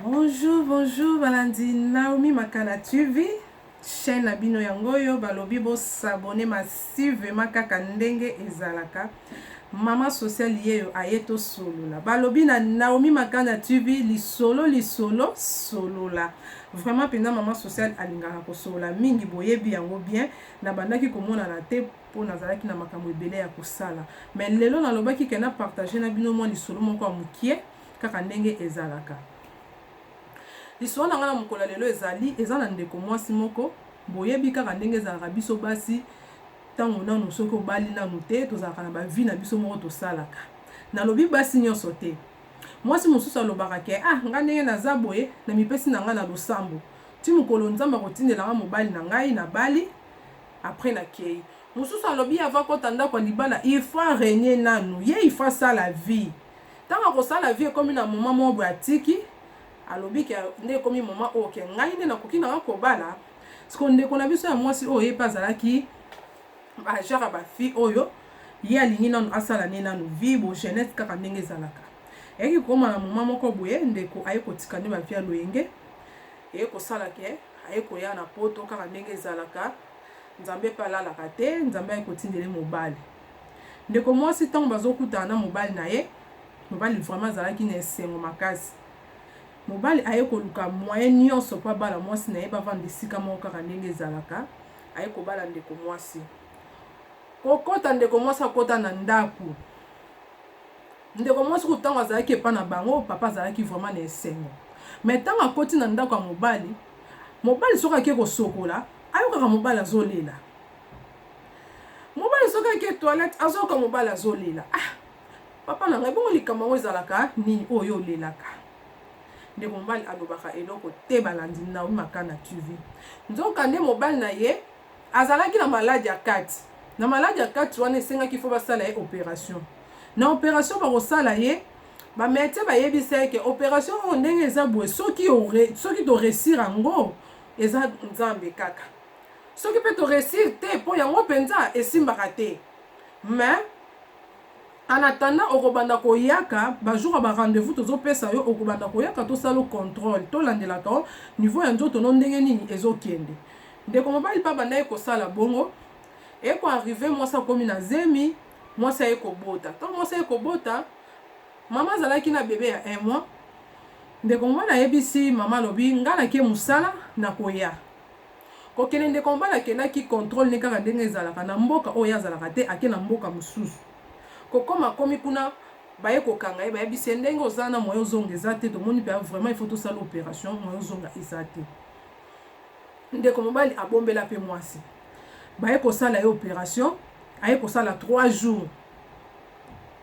Bonjour, bonjour balandi Naomi Makana TV, chaîne na bino yango oyo balobi bo s'abonner massivement kaka ndenge ezalaka. Maman sociale yeyo aye to solola. Balobi na Naomi Makana TV lisolo lisolo solola. Vraiment pena maman sociale alingaka ko solola mingi boyebi yango bien. Na bandaki komona na te po nazalaki na makambo ebele ya kosala. Mais lelo nalobaki ke na partager na bino mwa lisolo moko ya mukie. kaka ndenge ezalaka. Lisolo na ngai na mokolo ya lelo ezali eza na ndeko mwasi moko boyebi kaka ndenge ezalaka biso basi ntango nanu soki obali nanu te tozalaka na bavi na biso moko tosalaka nalobi basi nyonso te mwasi mosusu alobaka ke ah ngai ndenge naza boye namipesi na ngai na losambo ti mokolo nzambe akotindela ngai mobali na ngai nabali apres nakei mosusu alobi ava kota ndako ya libala ifa renie nanu ye ifa sala vie Tango akosala vie ekomi na moment moko boye atiki alobi ke nde ekomi moment oyo ke ngai nde nakoki na nga kobala siko ndeko na biso ya mwasi oyo ye mpe azalaki genre ya ba fille oyo ye alingi nanu asala ne nanu vie bo jeunesse kaka ndenge ezalaka eyaki kokoma na moment moko boye ndeko aye kotika nde ba vie ya loyenge eye kosala ke aye koya na poto kaka ndenge ezalaka nzambe mpe alalaka te nzambe aye kotindele mobali Ndeko mwasi tango bazo kutana na mobali na ye, mobali vraiment azalaki na esengo makasi. Mobali aye koluka moyen nionso po abala mwasi na ye bavanda esika moko kaka ndenge ezalaka, aye kobala ndeko mwasi. Kokota ndeko mwasi akota na ndaku, ndeko mwasi kutu tango azalaki epa na bango papa azalaki vraiment na esengo. Mais tango akoti na ndaku ya mobali, mobali soki ake kosokola ayokaka mobali azolela, mobali soki ake toilette azoyoka mobali azolela ah papa na ngai bongo likambo yango ezalaka nini oyo olelaka ndeko mobali alobaka eloko te balandi naomi makana tv nzoka nde mobali na ye azalaki na maladi ya kati na maladi ya kati wana esengaki fo basala ye operation na operation bakosala ye bametie bayebisa ye ke operation oyo ndenge eza boye soki soki toresir yango eza nzambe kaka Soki pe to reussir te po yango penza esimbaka te mais en attendant okobanda koyaka ba jour ya ba rendez-vous tozo pesa yo okobanda koyaka tosala yo controle tolandelaka yo niveau ya nzoto no ndenge nini ezo kende ndeko mobali pe abandaki kosala bongo eko arrive mwasi akomi na zemi mwasi aye kobota ntango mwasi aye kobota mama azalaki na bebe ya un mois ndeko mobali ayebisi mama alobi ngai nake mosala nakoya Kokende ndeko mobali akendaki controle nde kaka ndenge ezalaka na mboka oyo ye azalaka te ake na mboka mosusu kokoma akomi kuna baye kokanga ye bayebisi ye ndenge oza na moyen ozonga eza te tomoni mpe vraiment il faut tosala operation moyen ozonga eza te ndeko mobali abombela mpe mwasi baye kosala ye operation aye kosala 3 jours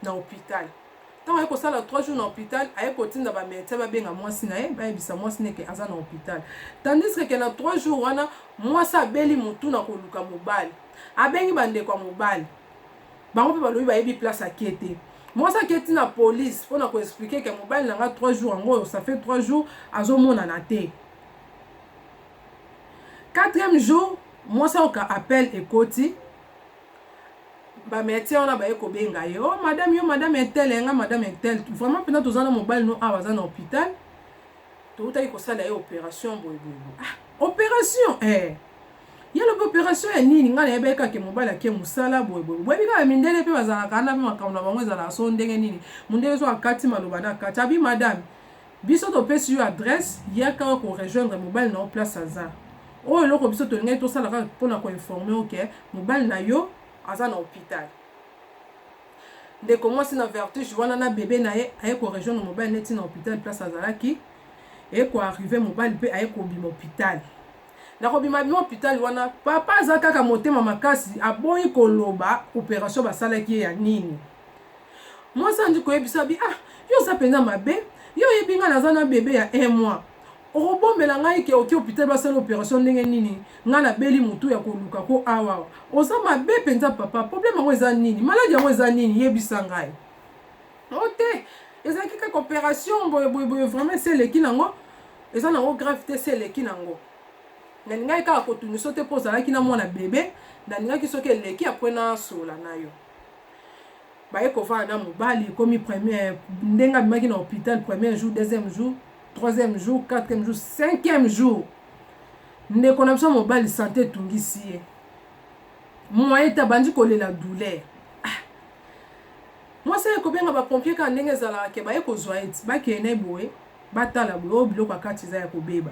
na hôpital ntango aye kosala 3 jours na hôpital aye kotinda bamédecin babenga mwasi na ye bayebisa mwasi na eke aza na hôpital tandis keke na 3 jours wana mwasi abeli motu na koluka mobali abengi bandeko ya mobali bango mpe balobi bayebi place ake te mwasi aketi na polise mpo na koexplike ke mobali na nga 3 jours yango oyo ça fait 3 jours azomonana te quatrième jour mwasi ayoka appel ekoti ba médecins wana baye kobenga ye oh madame yo madame intel ya nga madame intel vraiment mpenza toza na mobali no awa aza na hôpital toutaki kosala ye opération boye boye ah opération eh ye lobi opération ya nini ngai nayebaki kaka mobali ake mosala boye boye boyebi kaka mindele mpe bazalaka na mpe makambo na bango ezalaka so ndenge nini mondele so akati maloba na kati abi madame Biso topesi yo adresse yaka awa ko rejoindre mobali na yo place aza. Oyo eloko biso tolingaki tosala kaka pona ko informer yo ke mobali na yo aza na hopital. Ndeko mwasi na vertige wana na bebe na ye aye ko rejoindre mobali na ye ti na hopital place azalaki. Eye ko arriver mobali pe aye kobima hopital. Na kobima bima hopital wana papa aza kaka motema makasi aboyi koloba operation basalaki ye ya nini. mwasi andi koyebisa bi ah yo oza mpenza mabe yo oyebi ngai naza na bebe ya un mois okobombela ngai ke oke hopital basala operation ndenge nini ngai nabeli motu ya koluka ko awa oza mabe mpenza papa probleme yango eza nini maladi yango eza nini yebisa ngai o oh, te ezalaki kaka operation boyeboyeboye vraiment esi eleki nango eza nango grave te esi eleki nango nalingaki kaka kotungiso te mpo ozalaki na mwana bebe nalingaki soki eleki apres nasola na yo baye kovanda na mobali ekomi première ndenge abimaki na hôpital premier jour deuxième jour troisième jour quatrième jour cinquième jour ndeko na biso mobali sante etungisi ye moye te abandi kolela douleur ah. mwasi aye kobenga bapompier kaka ndenge ezalaka ke baye kozwa ye ti bakeye na ye boye batala boye oyo biloko ya kati eza ya kobeba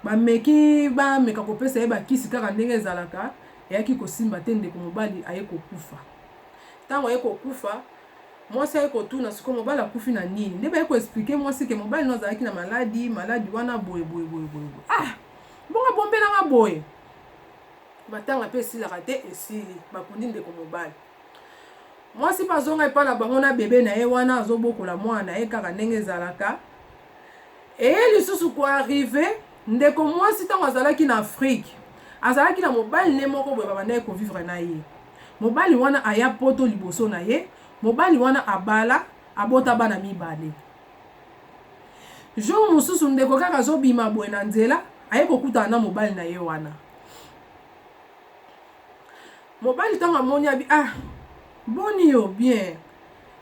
bameki bameka kopesa ye bakisi kaka ndenge ezalaka Eyaki kosimba te, ndeko mobali aye kokufa. Tango aye kokufa, mwasi aye kotuna sikoyo mobali akufi na nini? Nde baye ko expliquer mwasi ke mobali no azalaki na maladi, maladi wana boye boye boye boye boye. Ah! Bongo abombela nga boye? Matanga pe esilaka te, esili. Bakundi ndeko mobali. Mwasi pe azonga epai na bango na bebe na ye wana, azobokola mwana na ye kaka ndenge ezalaka. eye lisusu ko arrive ndeko mwasi ntango azalaki na afrike azalaki na mobali ne moko boye babandaki kovivre na ye mobali wana aya poto liboso na ye mobali wana abala abota bana mibale jour mosusu ndeko kaka azobima boye na nzela aye kokutana na mobali na ye wana mobali ntango amoni abi ah boni yo bien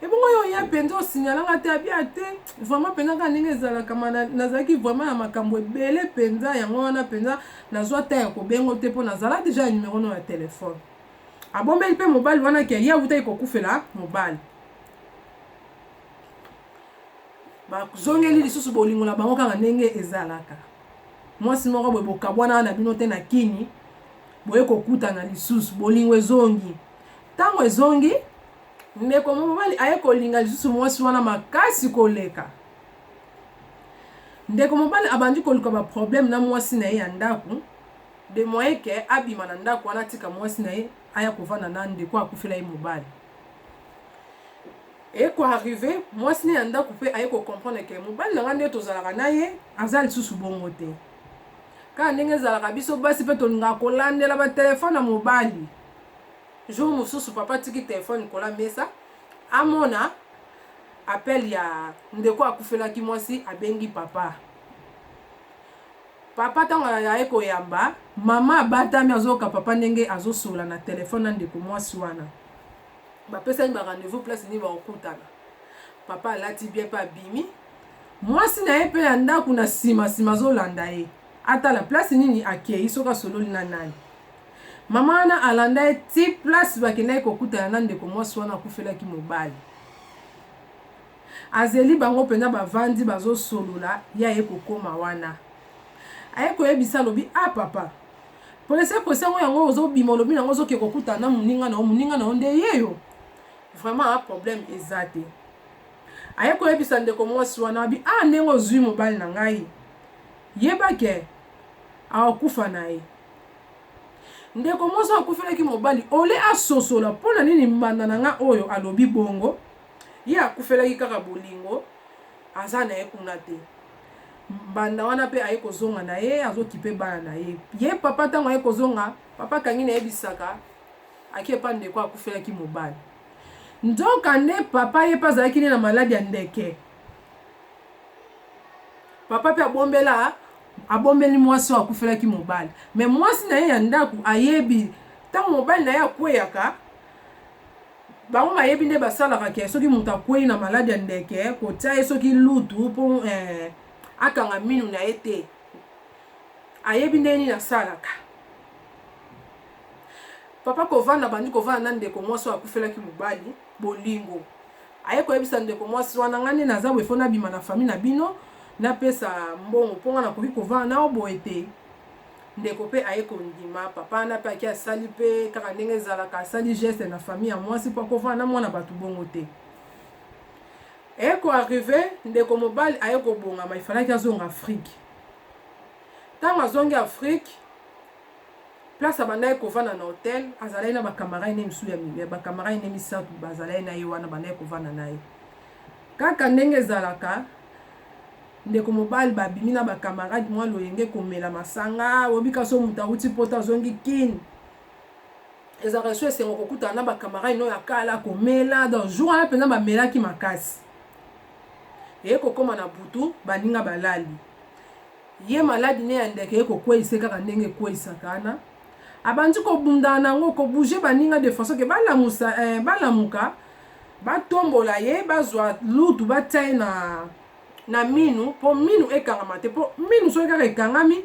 ebongo yo oya mpenza osignala nga te abia te vraiment mpenza kaka ndenge ezalaka ma nazalaki vraiment ya makambo ebele mpenza yango wana mpenza nazwa ta ya kobengo te mpo nazala deja ya numero no ya telefone abombeli mpe mobali wana ke ye awutaki kokufela mobali bazongeli lisusu bolingo na bango kaka ndenge ezalaka mwasi moko boye bokabwana na bino te na kini boye kokutana lisusu bolingo ezongi ntango ezongi Ndeko mobali aye kolinga lisusu mwasi wana makasi koleka. Ndeko mobali abandi koluka ba problème na mwasi na ye ya ndako de moyen ke abima na ndako wana atika mwasi na ye aya kovanda na ndeko akufela ye mobali. Eye ko arrive mwasi na ye ya ndako mpe aye ko comprendre ke mobali na ngai nde tozalaka na ye aza lisusu bongo te. Kaka ndenge ezalaka biso basi mpe tolingaka kolandela ba telefone ya mobali Jour mususu papa atiki telephone likolo ya mesa amona appel ya ndeko akufelaki mwasi abengi papa. Papa tango aye koyamba mama abatami azoyoka papa ndenge azosolola na telephone na ndeko mwasi wana. Bapesani ba rendez-vous place nini bakokutana. Papa alati bien pe abimi. Mwasi na ye pe ya ndako na sima sima azolanda ye. Atala place nini akeyi soki asololi na nani. Mama wana alanda ye ti place bakendaki kokutana na ndeko mwasi wana akufelaki mobali. Azeli bango mpenza bavandi bazosolola ye aye kokoma wana. Aye koyebisa alobi a ah, papa polese ekosi yango yango ozobima olobi na yango ozoke kokutana na moninga na yo moninga na yo nde yeyo vraiment ah, problème eza te. Aye koyebisa ndeko mwasi wana abi a ah, ndenge ozwi mobali na ngai yebake akokufa na ye. Ndeko mwasi akufelaki mobali, ole asosola mpo na nini mbanda na nga oyo alobi bongo, ye akufelaki kaka bolingo, aza na ye kuna te. Mbanda wana mpe aye kozonga na ye, azokipe bana na ye. Ye papa ntango aye kozonga, papa kangi na ye bisaka, ake epa ndeko akufelaki mobali. Nzoka nde papa ye mpe azalaki nde na maladi ya ndeke. Papa mpe abombela Abombeli mwasi oyo akufelaki mobali. Mais mwasi na ye ya ndaku ayebi tango mobali na ye akweyaka bango mayebi nde basalaka ke soki moto akwei na maladi ya ndeke kotia ye soki lutu mpo eh, akanga minu na ye te ayebi ndenge nini asalaka papa kovanda bandi kovanda na ndeko mwasi oyo akufelaki mobali bolingo aye koyebisa ndeko mwasi wana ngai nde naza boye fo nabima na fami na bino napesa mbongo mpo ngai nakoki kovanda nao boye te ndeko mpe aye kondima papa wana mpe ake asali mpe kaka ndenge ezalaka asali geste na fami ya mwasi mpo akovanda na mwana bato bongo te eye koarrive ndeko mobali aye kobongama ifalaki azonga afrike ntango azongi afrike place abandaki kovanda na hotel azalaki na bakamarade ne misusu ya bakamarade ne misato bazalaki na ye wana bandaki kovanda na ye kaka ndenge ezalaka ndeko mobali babimi na bakamarade mwa loyenge komela masanga obika so moto awuti poto azongi kine ezalaka esu esengo kokutana na bakamarade no ya kala komela donc jour wana mpenza bamelaki makasi eye kokóma na butu baninga balali Ye maladi ne ya ndeke eko kweyisa ye kaka ndenge ekweyisaka ana abandi ko bundana na yango ko bouger baninga de façon que ba lamusa eh ba lamuka ba tombola ye ba zua lutu ba tia ye na na minu po minu ekangama te po minu soki kaka ekangami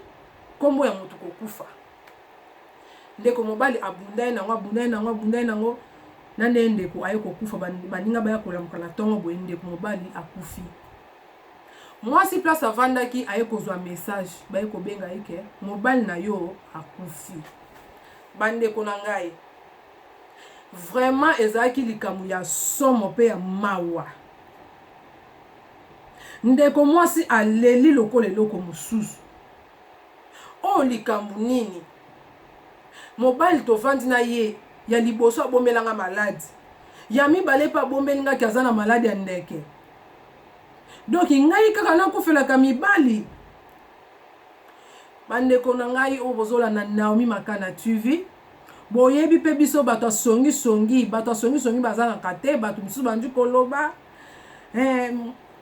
kombo ya mutu ko kufa ndeko mobali abunda ye na yango abunda ye na yango abunda ye na yango na ndenge ndeko aye ko kufa baninga baya kolamuka na tongo boye ndeko mobali akufi mwasi place avandaki aye kozwa message baye kobenga ye ke mobali na yo akufi bandeko na ngai vraiment ezalaki likambo ya somo mpe ya mawa ndeko mwasi aleli lokola eloko mosusu oyo likambo nini mobali tovandi na ye ya liboso abombelanga maladi ya mibale mpe abombeli ngaki aza na maladi ya ndeke donc ngai kaka nakufelaka mibali bandeko na ngai oyo bozolanda naomi makana tv boyebi mpe biso bato ya songisongi bato ya songisongi bazangaka te bato mosusu bandi koloba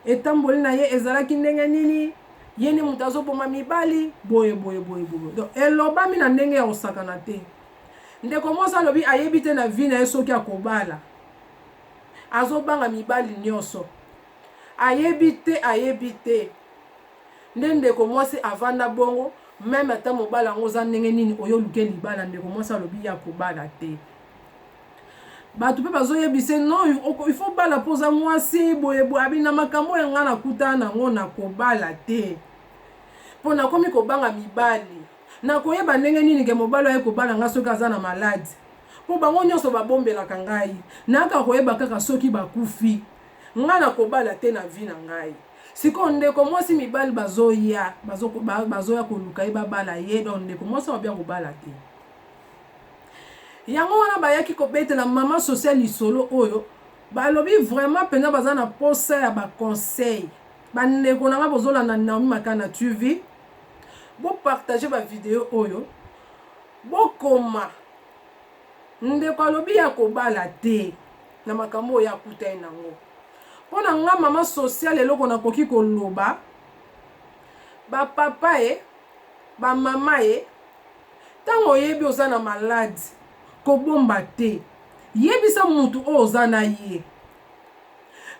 etamboli na ye ezalaki ndenge nini ye nde moto azoboma mibali boye boye boye boye donc elobami na ndenge ya kosakana te ndeko mosi alobi ayebi te na vi na ye soki akobala azobanga mibali nioso ayebi te ayebi te nde ndeko mwasi avanda bongo meme ata mobala yango oza ndenge nini oyo oluke libala ndeko mwasi alobi ya kobala te bato mpe bazoyebise no ifo bala mpo oza mwasi boye boye abi na makambo ya ngai nakutana nango na kobala te mpo nakomi kobanga mibali Nakoyeba ndenge nini ke mobali oyo aye kobala nga soki aza na malade? Po bango nionso ba bombelaka ngai. Nayaka koyeba kaka soki bakufi. Nga nakobala te na vie na ngai. Sikoyo ndeko mwasi mibali bazoya, bazo bazoya koluka ye babala ye donc ndeko mwasi akobi akobala te. Yango wana bayaki kobetela maman sociale lisolo oyo balobi vraiment penza baza na posa ya ba conseils. Ba ndeko na nga bozo landa Naomi Makana TV, bo partager ba video oyo, bo koma ndeko alobi ya kobala te na makambo oyo akutani nango. Mpo na nga mama social eloko nakoki koloba ba papa ye ba mama ye ntango oyebi oza na malade kobomba te yebisa mutu oyo oza na ye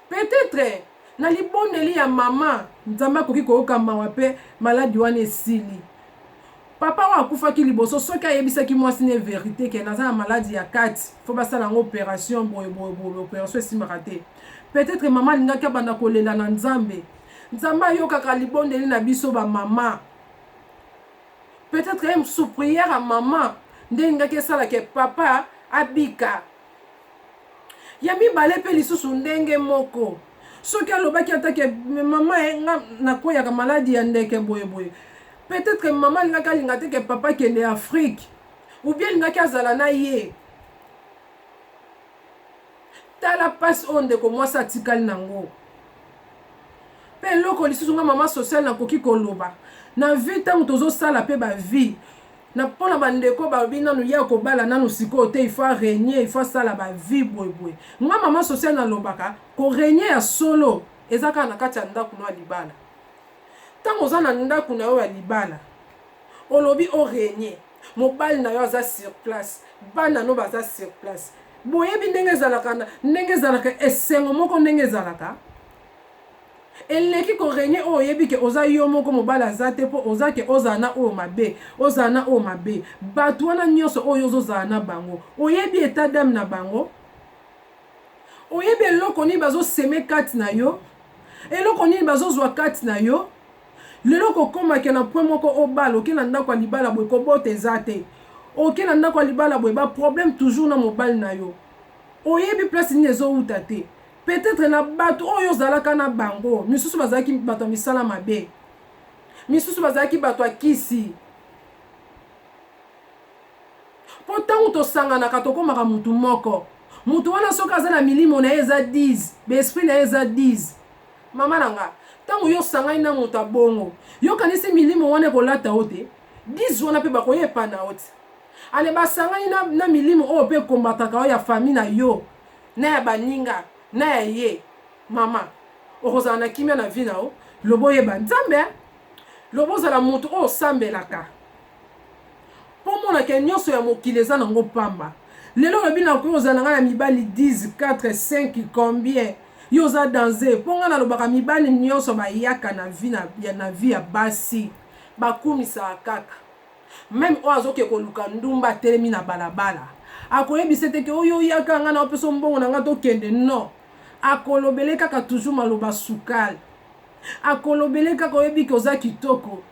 Peut-etre na libondeli ya mama Nzambe akoki koyoka mawa pe maladi wana esili. Papa oyo akufaki liboso soki ayebisaki mwasi ne verite ke naza na maladi ya kati faut basala yango operation boye boye boye operation esimaka te. Peut-etre mama alingaki abanda kolela na Nzambe. Nzambe ayokaka libondeli na biso ba mama. Peut-etre sous prière ya mama nde elingaki esala ke papa abika. ya mibale mpe lisusu ndenge moko soki alobaki ata ke mama eh, nga nakweyaka maladi ya ndeke boyeboye peut-être mama alingaki alinga te ke papa kende afrique ou bien alingaki azala na ye tala mpasi oyo ndeko mwasi atikali nango mpe eloko lisusu nga mama sociale nakoki koloba na vie ntango tozosala mpe bavie na mpona bandeko balobi nanu ye akobala nanu sikoyo te ifo aregne ifo asala ba vie boyeboye nga mama socia nalobaka koregne ya solo eza kaka na kati ya ndako no ya libala ntango oza na ndako na yo ya libala olobi oregne mobali na yo aza sur place bana no baza sur place boyebi ndenge ezalaka ndenge ezalaka esengo moko ndenge ezalaka eleki ko regne oyo oyebi ke oza yo moko mobali aza te po oza ke ozala na oyo mabe ozala na oyo mabe batu wana nionso oyo ozo zala na bango oyebi etat d'ame na bango oyebi eloko nini bazo seme kati na yo eloko nini bazo zwa kati na yo lelo kokoma ke na point moko obala oke na ndako ya libala boye kobota eza te oke na ndako ya libala boye ba problème toujours na mobali na yo oyebi place nini ezowuta te peut-être na bato oyo ozalaka na bango misusu bazalaki bato ya misala mabe misusu bazalaki bato ya kisi mpo ntango tosanganaka tokomaka motu moko motu wana soki aza na milimo na ye eza 10 baesprit na ye eza 10 mama na nga ntango yo osangani na moto abongo yokanisi milimo wana ekolata yo te 10 wana mpe bakoya epana yo te Ale basangani na, na milimo oyo mpe ekombataka oyo ya fami na yo na ya baninga na ya ye. Mama, okozala na kimia na vi na yo loba oyeba Nzambe eh? Loba ozala moto oyo osambelaka mpo mona ke nyonso ya mokili eza na ngo pamba. Lelo olobi nakoki ozala ngai na mibali 10, 4, 5, combien yo oza danze mpo ngai nalobaka mibali nyonso bayaka na vi na, na vi ya basi bakumisaka kaka Meme oyo azoke koluka ndumba atelemi na balabala akoyebise te ke oyo oyaka nga na opeso mbongo na nga tokende non akolobele kaka toujours maloba sukal akolobele kaka oyebi ke oza kitoko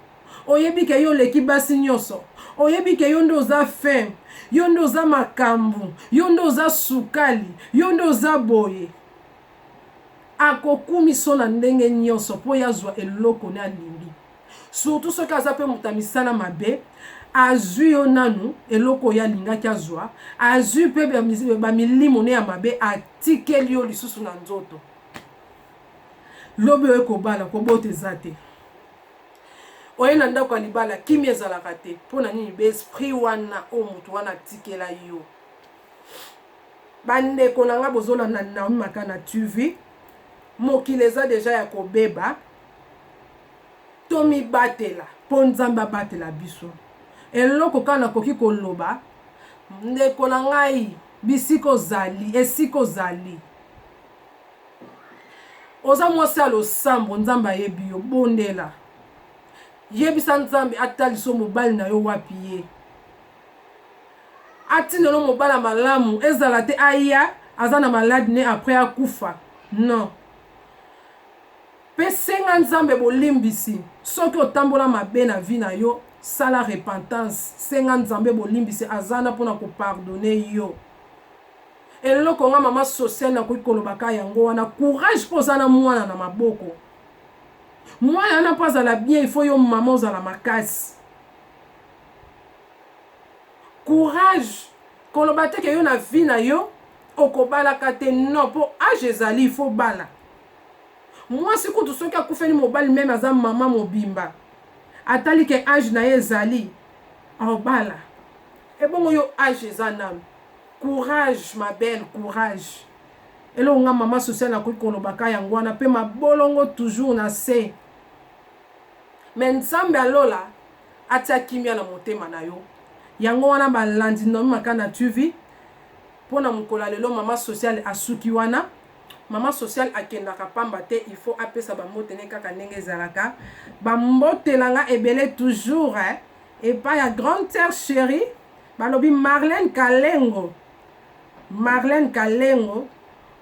oyebi ke yo oleki basi nyonso oyebi ke yo nde oza fin yo nde oza makambu yo nde oza sukali yo nde oza boye akokumiso na ndenge nyonso mpo yazwa eloko ne alingi surtout soki aza mpe moto ya misala mabe azwi yo nanu eloko oyo alingaki azwa azwi mpe bamilimo ne ya mabe atikeli yo lisusu na nzoto lobi oye kobala kobota eza te oye na ndako ya libala kimi ezalaka te mpo na nini baesprit wana oyo moto wana atikela yo bandeko na ngai bozolanda naomi maka na tv mokili eza deja ya kobeba tomibatela po Nzambe abatela biso. Eloko kaka nakoki koloba ndeko na ngai bisika ozali esika ozali oza mwasi ya losambo Nzambe ayebi yo bondela yebisa Nzambe atalisa mobali na yo wapi ye atindelo mobali ya malamu ezala te aya aza na malade ne après akufa non Pe senga Nzambe bolimbisi soki otambola mabe na vie na yo sala repentance senga Nzambe bolimbisi aza na pona ko pardonne yo eloko nga maman sociale na koki koloba ka yango wana courage po oza na mwana na maboko mwana wana po azala bien il faut yo maman ozala makasi courage koloba te ke yo na vie na yo okobalaka te non po age ezali il faut bala Mwasi kutu soki akufeli mobali meme aza maman mobimba atali ke age na ye ezali aobala ebongo yo age eza nanu courage ma belle courage eloko nga maman sociale nakoki koloba ka yango wana pe mabolongo toujours na se me nzambe ya lola atia kimia na motema na yo yango wana balandi nomi makana tv mpo na mokolo ya lelo mama sociale asuki wana Maman social akendaka pamba te il faut apesa ba mbote ne kaka ndenge ezalaka ba mbote na nga ebele toujours eh, epai ya grande sœur cherie balobi Marlène Kalengo Marlène Kalengo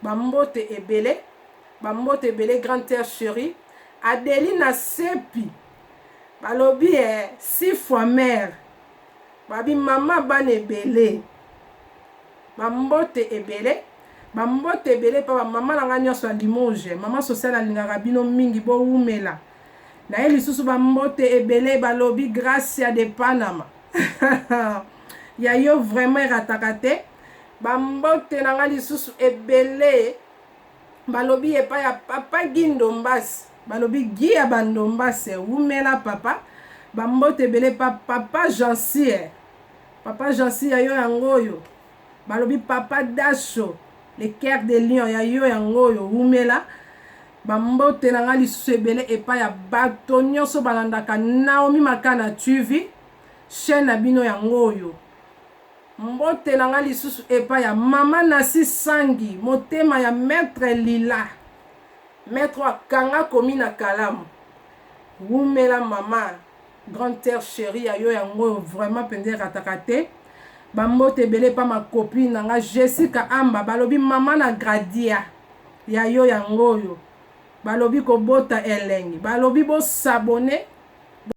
ba mbote ebele ba mbote ebele grande sœur cherie Adelina Sepi balobi eh, six fois mère babi mama bana ebele ba mbote ebele Ba mbote ebele epa ba maman na nga nionso ya Limoges, maman sociale na lingaka bino mingi bo wumela. Naye lisusu ba mbote ebele ba lobi Gracia de Panama ya yo vraiment erataka te. Ba mbote na nga lisusu ebele ba lobi epa ya papa Guy Ndombas, ba lobi Guy ya ba Ndombas wumela papa. Ba mbote ebele epa papa Jeansire, papa Jeansire ya yo yango oyo. Balobi papa daco le coeur de lion ya yo yango oyo wumela ba mbote na nga lisusu ebele epa ya bato nioso balandaka naomi makana TV chaine na bino yango oyo mbote na nga lisusu epa ya maman nasi sangi motema ya maitre lila maitre oyo akanga komi na kalamu wumela maman Grande terre cherie ya yo yango vraiment mpenza erataka te. Bambote ebele pa ma copine na nga Jessica Amba balobi mama na Gradia ya yo yango oyo balobi kobota elengi balobi bosabone